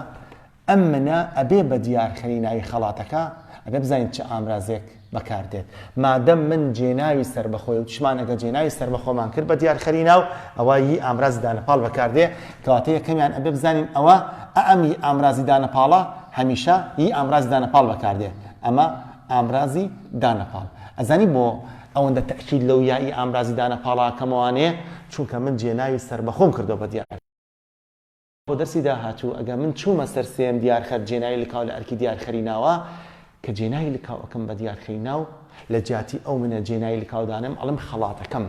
A: ئەم منە ئەبێ بە دیارکەری ناوی خەڵاتەکە ئەبێ بزانین چ ئامرازێک بەکار دێت مادەم من جێناوی سەربەخۆی وتشمان ئەگەر جێناوی سەربەخۆمان کرد بە دیارخەری ناو ئەوە ی ئامرازی دانەپاڵ بەکار دێ کەواتە یەکەمیان ئەبێ بزانین ئەوە ئەم ی ئامرازی دانەپاڵە هەمیشە ی ئامرازی دانەپاڵ بەکار دێ ئەمە ئامرازی دانەپاڵ ئەزانی بۆ ئەوەندە تەئکید لەو یا ی ئامرازی دانەپاڵە ئەکەمەوانێ چونکە من جێناوی سەربەخۆم کردووە بە دیارخەری بۆ دەرسی داهاتوو ئەگە من چوومە سەر سێیەم دیارخەر جێناوی لکاو لە ئەرکی دیارخەری ناوە کە جێناوی لکاو ئەکەم بە دیارخەری ناو لە جیاتی ئەو منە جێناوی لکاو دانم ئەڵم خەڵاتەکەم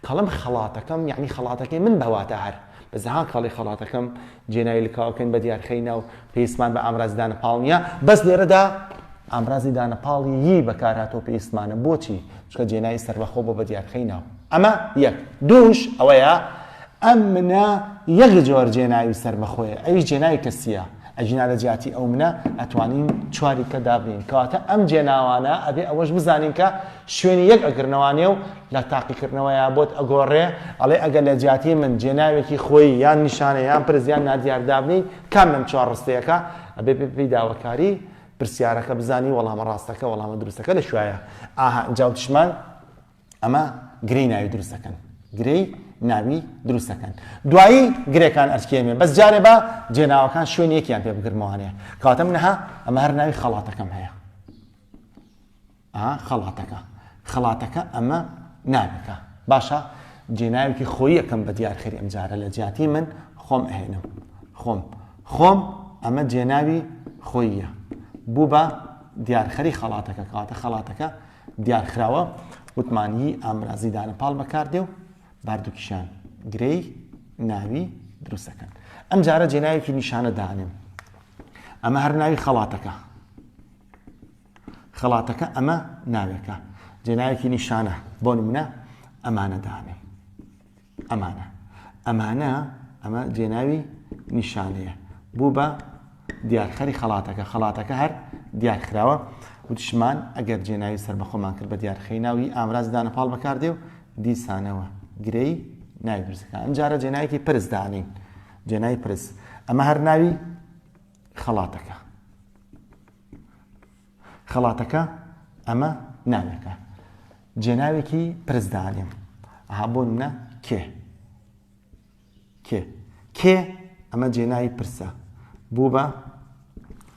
A: کەڵم خەڵاتەکەم یعنی خەڵاتەکەی من بە واتە هەر بە زەها کاڵی خەڵاتەکەم جێناوی لکاوەکەن بە دیارخەی ناو پێویستمان بە ئامرازی دانەپاڵ نییە بەس لێرەدا ئامرازی دانەپاڵی یی بەکارهاتۆ پێویستمانە بۆچی چکە جێناوی سەربەخۆ بۆ بە دیارخەی ناو ئەمە یەک دووش ئەوەیە ئەم منە یەک جۆر جێناوی سەربەخۆیە ئەویش جێناوی کەسییە ئەگینا لە جیاتی ئەو منە ئەتوانین چواری کە دابنین کەواتە ئەم جێناوانە ئەبێ ئەوەش بزانین کە شوێنی یەک ئەگرنەوانێ و لە تاقیکردنەوەیە بۆت ئەگۆڕێ ئەڵێ ئەگەر لە جیاتی من جێناوێکی خۆی یان نیشانە یان پرزیان نادیار دابنین کام لەم چوار ڕستەیەەکە ئەبێ پێی داواکاری پرسیارەکە بزانی وەڵامە ڕاستەکە وەڵامە دروستەکە لە شوایە ئاها جاوتشمان ئەمە گرێی ناوی دروست دەکەن گرێی ناوی دروست دەکەن دوایی گرێکان ئەرکێمێ بەس جارێ بە جێناوەکان شوێن یەکیان پێ بگرمەوانێ کاتم نەها ئەمە هەر ناوی خەڵاتەکەم هەیە خەڵاتەکە خەڵاتەکە ئەمە ناوەکە باشە جێناوێکی خۆی یەکەم بە دیارخەری ئەم جارە لە جیاتی من خۆم ئەهێنم خۆم خۆم ئەمە جێناوی خۆیە بوو بە دیارخەری خەڵاتەکە کاتە خەڵاتەکە دیارخراوە متمانیی ئامرازی دانەپاڵ بەکاردێ و باردووکیشان گرێی ناوی دروست دەکەن. ئەمجارە جێناوێکی نیشانە دانێم. ئەمە هەر ناوی خەڵاتەکە. خەڵاتەکە ئەمە ناوێکە. جێناوێکی نیشانە بۆ نمونە ئەمانە دانێم. ئەمانە. ئەمانە، ئەمە جێناوی نیشانەیە، بوو بە دیارخەری خەڵاتەکە، خەڵاتەکە هەر دیارکراوە. وتیشمان، ئەگەر جێناوی سەربەخۆمان کرد بە دیارخەی ناو، ی ئامرازی دانەپاڵ بەکار دێ و دیسانەوە گرێی ناوی پرس دەکا. ئەمجارە جێناوێکی پرس دانێین، جێناوی پرس. ئەمە هەر ناوی خەڵاتەکە. خەڵاتەکە ئەمە ناوێکە جێناوێکی پرس دانێم ئەها بۆ منە کێ کێ کێ ئەمە جێناوی پرسە بوو بە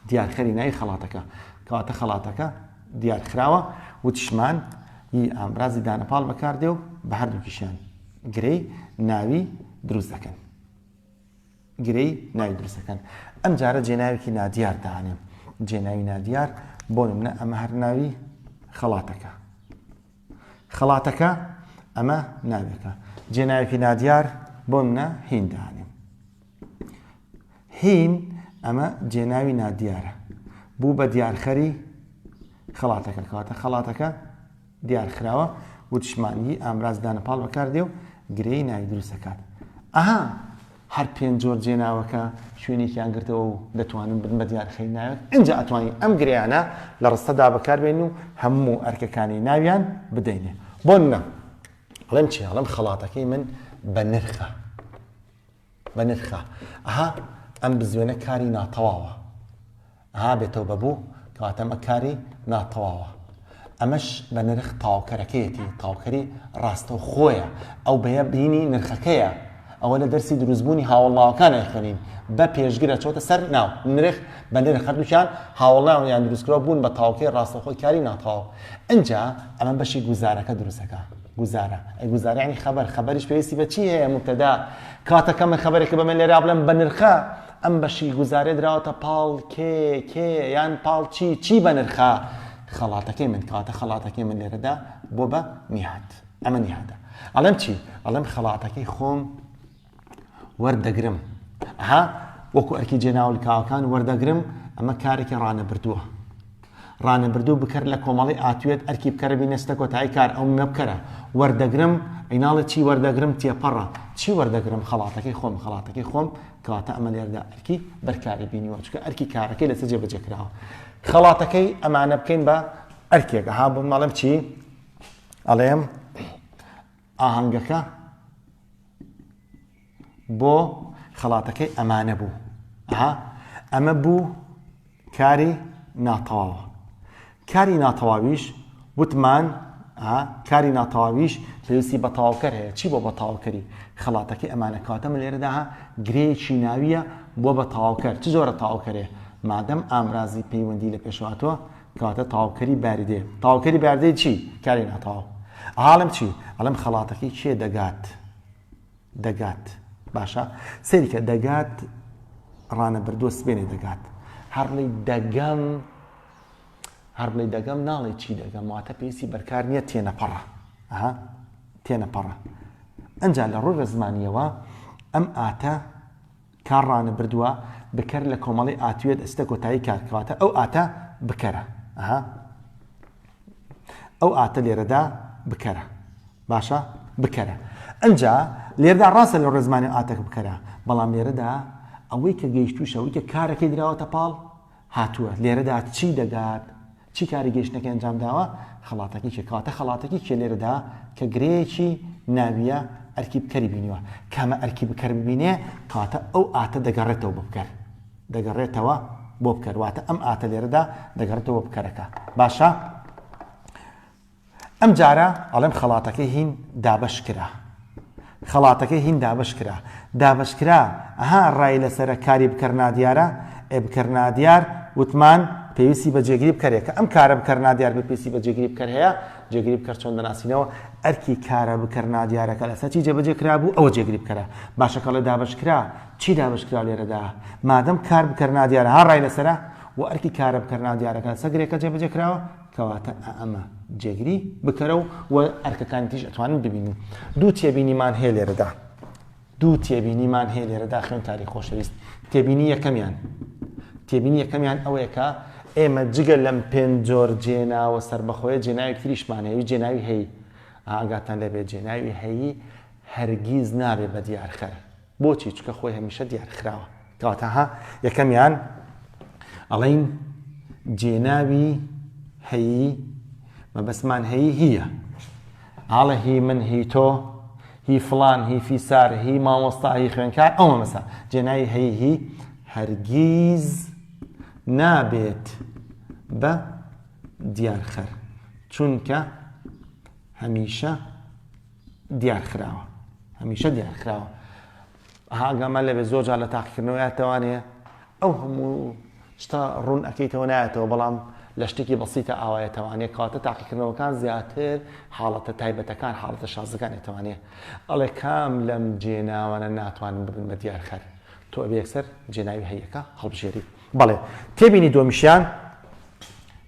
A: دیارخەری ناوی خەڵاتەکە کەواتە خەڵاتەکە دیارخراوە وتشمان ی ئامرازی دانەپاڵ بەکاردێ و بە هەردووکیشیان گرەی ناوی دروست دەکەن گرێی ناوی دروست دەکەن ئەم جارە جێناوێکی نادیار دانێن جێناوی نادیار بۆ نمونە ئەمە هەر ناوی خەڵاتەکە خەڵاتەکە ئەمە ناوێکە جێناوێکی نادیار بۆ منە هین دانێن هین ئەمە جێناوی نادیارە بوو بە دیارخەری خەڵاتەکە کەواتە خەڵاتەکە دیارخراوە وتشمانیی ئامراز دانەپاڵ بەکاردێ و گرێی ناوی دروست ئەکات. ئەها هەر پێنج جۆر جێناوەکە شوێنێکیان گرتەوە و دەتوانن بن بە دیارخەی ناوێک، ئینجا ئەتوانین ئەم گرێیانە لە ڕستەدا بەکاربێنین و هەموو ئەرکەکانی ناویان بدەینێ. بۆ نمونە ئەڵێم چی؟ ئەڵێم خەڵاتەکەی من بەنرخە. بەنرخە ئەها ئەم بزوێنە کاری ناتەواوە ئەها بێ تەوبە بوو کەواتە ئەمە کاری ناتەواوە ئەمەش بە نرخ تاوکەرەکەیەتی تاوکەری ڕاستە و خۆیە ئەو بەیە بینی نرخەکەیە ئەوە لە دەرسی دروستبوونی هاوڵاوەکان ئەخوێنین بە پێشگرە چۆتە سەر ناو نرخ بە نرخ هەردووچان هاوڵاو یان دروستکرەوە بوون بە تاوکەی ڕاستەخۆی کاری ناتەواو ئەجا ئەمە بەشی گوزارەکە دروستەکە گوزارە ئەی گوزارە یعنی خەبەر خەبەریش پێویستی بە چی هەیە مبتدا کاتەکە من خەبەرێکە بەمە لێرا بڵێم بە نرخە ئەم بەشی گوزارێ دراوەتە پاڵ کێ کێ یان پاڵ چی چی بە نرخە خەڵاتەکەی من کاتە خەڵاتەکەی من لێرەدا بۆ بە نیهات ئەمە نیهاتە ئەڵێم چی ئەڵێم خەڵاتەکەی خۆم وەردەگرم ئەها وەکو ئەرکی جێناولکاوەکان وەردەگرم ئەمە کارێکی ڕانەبردووە ڕانەبردوو بکەر لە کۆمەڵی ئاتوێت ئەرکی بکەرە بینەستە کۆتایی کار ئەو مەبکەرە وەردەگرم ئەیناڵە چی وەردەگرم تێپەڕە چی وەردەگرم خەڵاتەکەی خۆم خەڵاتەکەی خۆم کەواتە ئەمە لێردا ئەرکی بەرکاری بینیوە چکە ئەرکی کارەکەی لەسەر جێبەجێکراوە خەڵاتەکەی ئەمانە بکەین بە ئەرکێکە ها بۆ ماڵم چی ئەڵێم ئاهەنگەکە بۆ خەڵاتەکەی ئەمانە بوو ئەها ئەمە بوو کاری ناتەواوە کاری ناتەواویش وتمان کاری ناتەواویش پێویستی بە تاوکەر هەیە چی بۆ بە تاوکەری خەڵاتەکەی ئەمانە کاتە من لێرەدا گرێکی ناویە بۆ بە تاوکەر چ زۆرە تاوکەرێ مادەم ئامرازی پەیوەندی لە پێشواتوە کەواتە تەواوکەری باردێ تەواوکەری باردەی چی کاری ناتەواو ئاڵم چی ئەڵم خەڵاتەکەی کێ دەگات دەگات باشە سەیرکە دەگات ڕانە بردووە سبێنێ دەگات هەڕڵی دەگەم هەربڵی دەگەم ناڵێ چی دەگەم واتە پێویستی بەرکار نییە تێنەپەڕە ئەها تێنەپەڕە ئەجا لە ڕۆژە زمانیەوە ئەم ئاتە تا ڕانە بردوە بکەر لە کۆمەڵەی ئاتوێت ئستە کۆتایی کار کەواتە ئەو ئاتە بکەرە ئەها ئەو ئاتە لێرەدا بکەرە باشە بکەرە ئەجا لێردا ڕاستە لە ڕێزمانی ئاتەک بکەرە بەڵام لێرەدا ئەوەی کە گەیشتوشەوەی کە کارەکەی دراوەتە پاڵ هاتووە، لێرەدا چی دەگات، چی کاری گەیشتنەکەی ئەنجام داوە، خەڵاتەکەی کێ، کەواتە خەڵاتەکی کێ لێرەدا کە گرێیەکی ناوییە ئەرکی بکەری بینیوە، کامە ئەرکی بکەر ببینێ، کەواتە ئەو ئاتە دەگەڕێتەوە بۆ بکەر، دەگەڕێتەوە بۆ بکەر، واتە ئەم ئاتە لێرەدا دەگەڕێتەوە بۆ بکەرەکە، باشە؟ ئەم جارە ئەڵێم خەڵاتەکەی هین دابەش کرا خەڵاتەکەی هین دابەش کرا دابەش کرا ئەها ڕای لەسەرە کاری بکەر نادیارە ئێ بکەر نادیار وتمان پێویستی بە جێگری بکەرێ کە ئەم کارە بکەر نادیار بە پێویستی بە جێگری بکەر هەیە جێگری بکەر چۆن دەناسینەوە ئەرکی کارە بکەر نادیارەکە لەسەر چی جێبەجێ کرا بوو ئەوە جێگری بکەرە باشەکەڵێ دابش کرا چی دابش کرا لێرەدا مادەم کار بکەر نادیارە ها ڕای لەسرە و ئەرکی کارە بکەر نادیارەکە سەگرێکە جێبەجێ کراوە کەواتە ئەئەمە جێگری بکەرە و و ئەرکەکانی تریش ئەتوانن ببینن. دوو تێبینیمان هەیە لێرەدا. دوو تێبینیمان هەیە لێرەدا خوێندکاری خۆشەویست. تێبینی یەکەمیان. تێبینی یەکەمیان ئەوەیە کە ئێمە جگە لەم پێنج جۆر جێناوە سەربەخۆیە جێناوێک تریشمان هەیە، جێناوی هەیی. ئاگاتان لێ بێت جێناوی هەیی هەرگیز نابێ بە دیارخەر. بۆچی؟ چونکە خۆی هەمیشە دیار خراوە. کەواتە ها یەکەمیان ئەڵین جێناوی هەیی مەبەستمان هەیی هیە ئاڵە هی من هی تۆ هی فلان هی فیسار هی مامۆستا هی خوێنکار ئەوە مەسا جێناوی هەیی هی هەرگیز نابێت بە دیارخەر چونکە هەمیشە دیارخراوە هەمیشە دیارخراوە هاگامان لەبێ زۆر جار لە تاقیکردنەوە یاتەوانەیە ئەو هەموو شتا ڕوون ئەەکەیتەوە نایەتەوە بەڵام لە شتێکی بەسیتە ئاوایەتەوانێ کاتە تاقیکردنەوەکان زیاتر حاڵەتە تایبەتەکان حاڵەتە شازەکانێتوانێ ئەڵێ کام لەم جێناوانە ناتوانن ببن بە دیارخەر تۆ ئەبێکسەر جێناوی هەیەکە هەڵبژێری بەڵێ تێبینی دۆمیشیان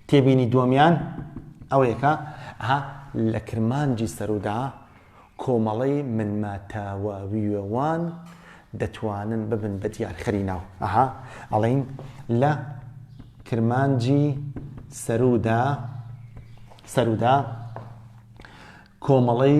A: تێبینی دووەمیان ئەوەیە کە ئەها لە کرمانجی سەروودا کۆمەڵەی منماتاواویەوان دەتوانن ببن بە دیارخەری ناو ئەها ئەڵین لە کرمانجی سەروودا سەروودا کۆمەڵەی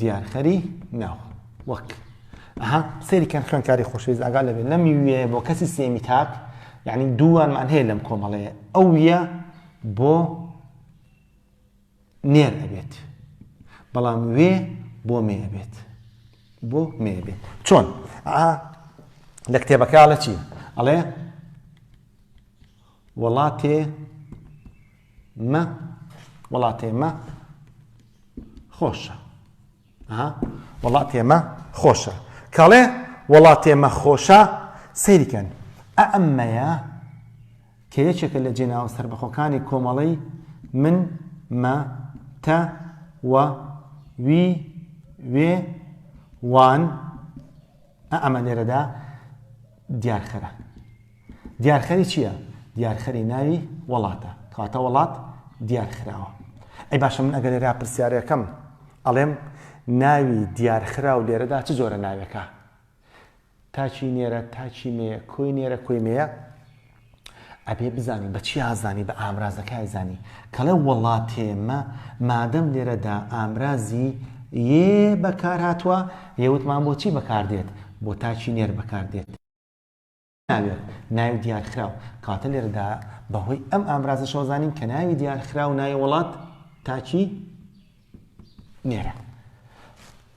A: دیارخەری ناو وەک ئەها سەیری کەن خوێنکاری خۆشەویست ئاگا لەبێ لەم وێ بۆ کەسی سێمی تاک یعنی دووانمان هەیە لەم کۆمەڵەیە ئەو یە بۆ نێر ئەبێت بەڵام وێ بۆ مێ بێت بۆ مێ بێت چۆن لە کتێبەکە لە چی ئەڵێ وڵاتێ مە وڵاتێ مە خۆشە وڵاتێ مە خۆشە کاڵێ وڵاتێ مە خۆشە سەیرکەن ئەمەیە کە یەکێکە لە جێناوە سربەخۆکانی کۆمەڵی من مە تە وە وی وێ وان ئەمە لێرەدا دیارخەرە دیارخەری چییە؟ دیارخەری ناوی وڵاتە کاتە وڵات دیارخراوە ئەی باشە من ئەگەر لێرا پرسیارەکەم ئەڵێم ناوی دیارخرا و لێرەدا چ جۆرە ناوێکە تاچی نێرە تاچی مێ کۆی نێرە کۆی مێە ئەبێ بزانی بە چیا زانی بە ئامرازەکای زانی کەڵێ وەڵا تێمە مادەم لێرەدا ئامرازی یێ بەکار هاتووە یەوتمان بۆچی بەکاردێت بۆ تاچی نێر بەکاردێت ناوێت ناوی دیارخراو کاتە لێرەدا بەهۆی ئەم ئامرازە شۆزانین کە ناوی دیارخراو ناوی وڵات تاچی نێرە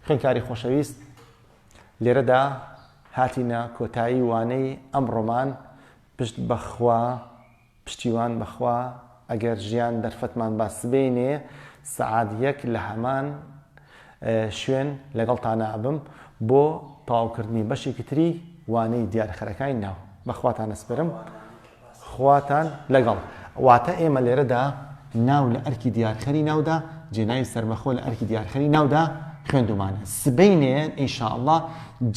A: خوێنکاری خۆشەویست لێرەدا هاتینە کۆتایی وانەی ئەمڕۆمان پشت بەخوا پشتیوان بەخوا ئەگەر ژیان دەرفەتمان با سبەینێ سەعات یەک لە هەمان شوێن لەگەڵ تانابم بۆ تەواوکردنی بەشێکی تری وانەی دیارخەرەکانی ناو بەخواتان نەسپرم خواتان لەگەڵ. واتە ئێمە لێرەدا ناو لە ئەرکی دیارخەری ناودا جێناوی سەربەخۆ لە ئەرکی دیارخەری ناودا خوێندومانە. سبەینێ ان شاء اللە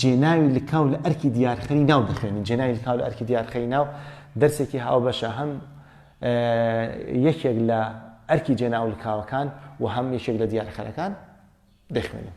A: جێناوی لکاو لە ئەرکی دیارخەری ناو دەخوێنین. جێناوی لکاو لە ئەرکی دیارخەری ناو دەرسێکی هاوبەشە هەم یەکێک لە ئەرکی جێناو لکاوەکان و هەم یەکێک لە دیارخەرەکان دەخوێنین.